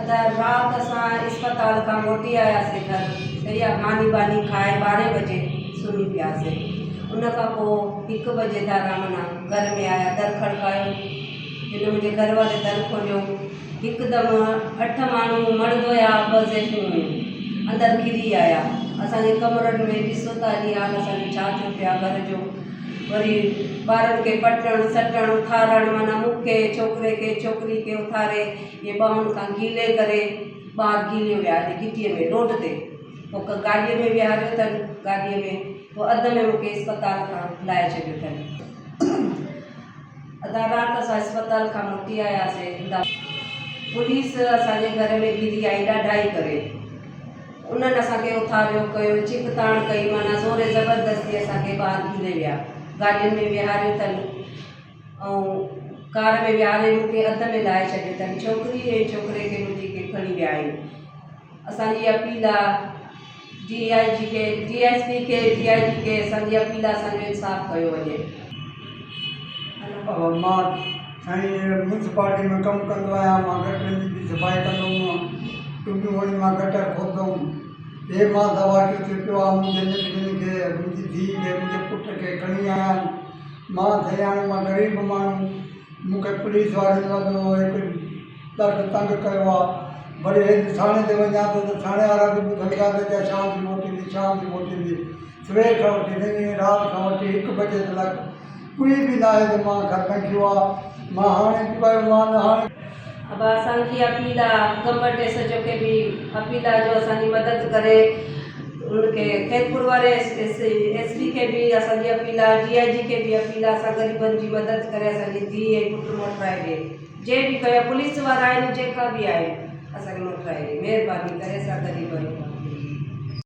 ادا رات اسان اسپتال کان موٽي آياسي گهر صحيح آ ماني ٻاني کائي ٻارهين بجي سمهي پياسي ان کان پو هڪ بجي تي آرام نال گهر ۾ آيا در کڙڪايو جن منهنجي گهر واري در کوليو هڪدم اٺ ماڻهو مڙد هيا ٻه زيتون هيون اندر ڪري آيا اسانجي ڪمرن ۾ ڏسو ته اڄ حال اسانجو ڇا ٿيو پيو آ گهر جو وري ٻارن کي پٽڻ سٽڻ اٿارڻ معنيٰ مون کي ڇوڪري کي ڇوڪري کي اٿاري ائين ٻانهن کان گيلي ڪري ٻار گيلي ويا هلي گهٽيء ۾ روڊ تي پوء ڪنهن گاڏيء ۾ ويهاريو اٿن گاڏيء ۾ پوء اڌ ۾ مون کي اسپتال کان لاهي ڇڏيو اٿن ادا رات اسان اسپتال کان موٽي آياسين ادا پوليس اسان جي گهر ۾ گهري آئي ڏاڍائي ڪري. انهن اسان کي اٿاريو، ڪيو، چيڪ تاڻ ڪئي، معنيٰ زوري زبردستي اسان کي ٻاهر گهلي ويا. گاڏين ۾ ويهاريو اٿن ۽ ڪار ۾ ويهاري مون کي اڌ ۾ لاهي ڇڏيو اٿن. ڇوڪري ۽ ڇوڪري کي به جيڪي کڻي ويا آهن. اسان جي اپيل آ ڊي آء جي کي، ڊي ايس پي کي، ڊي آء جي کي اسان جي اپيل آ اسان جو انصاف ڪيو وڃي. سائين ميونسپالٽي ۾ ڪم ڪندو آهيان مان گٽرن جي به صفائي ڪندو هئم ٽنبيون وڃي مان گٽر کوٽندو هئم هي مان زواتڙ ٿي پيو آهيان منهنجي ننڍڙين کي منهنجي ڌيء کي منهنجي پٽ کي کڻي آيا آهن مان سياڻو مان غريب ماڻهو مون کي پوليس وارن وڏو هڪ ڏاڍو تنگ ڪيو آهي وري هيڏي ٿاڻي تي وڃان ٿو ته ٿاڻي وارا به ٻڌن ٿا ته اڃا شام جو موٽيندي شام جو موٽيندي سوير کان وٺي رات کان وٺي هڪ بجي تلڪ ڪوئي به ناهي ته مان کان ڪنٺيو آ مان هاڻي ڪوئي مان نه هاڻي. ابا اسان کي اپيل آ گمبٽ ايس ايچ او کي به اپيل آ جو اسان جي مدد ڪري ان کي خيرپور واري ايس ايس پي کي به اسان جي اپيل آ ڊي آئي جي کي به اپيل آ اسان غريبن جي مدد ڪري اسان جي ڌي ۽ پٽ موٽرائي ڏي جي به ڪيو پوليس وارا آهن جيڪا به آهن اسان کي موٽرائي ڏي مهرباني ڪري اسان غريبن